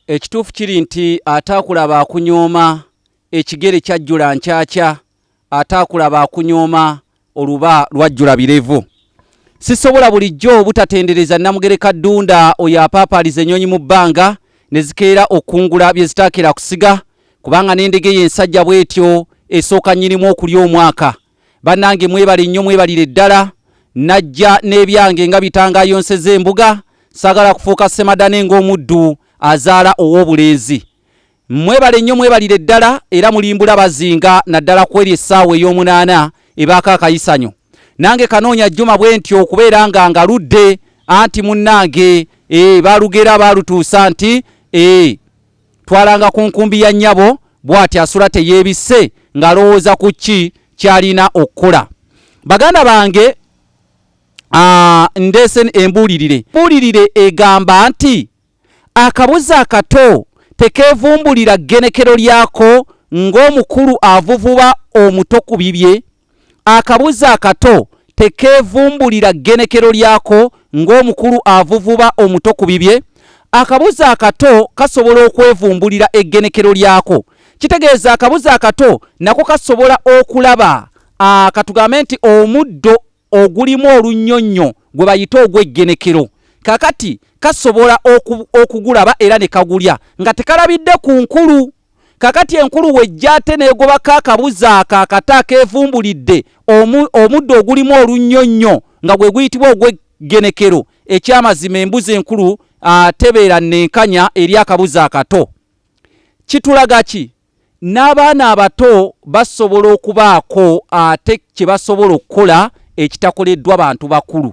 ekituufu kiri nti ate akulaba akunyooma ekigere kyajjula nkyakya ate akulaba akunyooma oluba lwajjula birevu sisobola bulijjo obutatendereza namugereka ddunda oyo apaapaaliza ennyonyi mu bbanga ne zikeera okukungula bye zitaakira kusiga kubanga n'endege ye ensajja bw'etyo esooka nnyinimu okulya omwaka banange mwebale nnyo mwebalire ddala najja n'ebyange nga bitangayo nseze embuga sagala kufuuka semadane ng'omuddu azaala ow'obulenzi mwebale nnyo mwebalire ddala era mulimbula bazinga naddala ku eri essaawa ey'omunaana ebaako akayisanyo nange kanoonya jjuma bwe ntyo okubeera nga ngaludde anti munnange e, eh, balugera baalutuusa nti e, twalanga ku nkumbi ya nnyabo bw'ati asula teyeebisse ng'alowooza ku ki ky'alina okukola baganda bange ah, ndeese embuulirire embuulirire egamba nti akabuzi akato tekeevumbulira ggenekero lyako ng'omukulu avuvuba omuto ku bibye Akabuzi akato tekeevumbulira ggenekero lyako ng'omukulu avuvuba omuto ku bibye. Akabuzi akato kasobola okwevumbulira eggenekero lyako. Kitegeeza akabuzi akato nako kasobola okulaba ah, katugambe nti omuddo ogulimu olunnyonnyo gwe bayita ogw'eggenekero kakati kasobola okugulaba era ne kagulya nga tekalabidde ku nkulu kakati enkulu wejja ate negobako akabuza ako akata akevumbulidde omuddo ogulimu olunnyo nnyo nga gwe guyitibwa ogweggenekero ekyamazima embuzi enkulu tebeera nenkanya eri akabuza akato kitulaga ki n'abaana abato basobola okubaako ate kye basobola okukola ekitakoleddwa bantu bakulu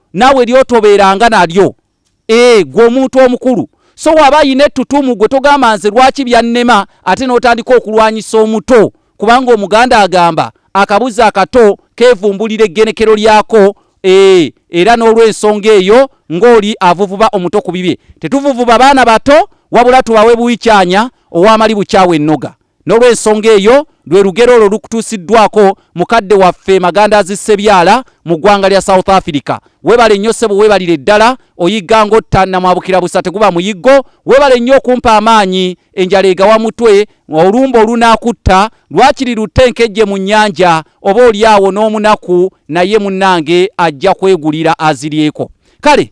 naawe lyotobeeranga nalyo ee gwe omuntu omukulu so waba ayina ettutumu gwe togamba nze lwaki byannema ate n'otandika okulwanyisa omuto kubanga omuganda agamba akabuzi akato kevumbulira eggenekero lyako ee era n'olwensonga eyo ng'oli avuvuba omuto ku bibye tetuvuvuba baana bato wabula tubawe buwikyanya owamali bukyawa ennoga N'olw'ensonga eyo, lwe lugero olwo lukutuusiddwako mukadde waffe Magandaazi Ssebyala mu ggwanga lya South Africa. Webale nnyo ssebo webalire ddala oyigga ng'otta namwabukira busa teguba muyiggo. Webale nnyo okumpa amaanyi enjala egawa mutwe olumbe olunaakutta lwakiri lutte enkejje mu nnyanja oba olyawo n'omunaku naye munnange ajja kwegulira aziryeko. Kale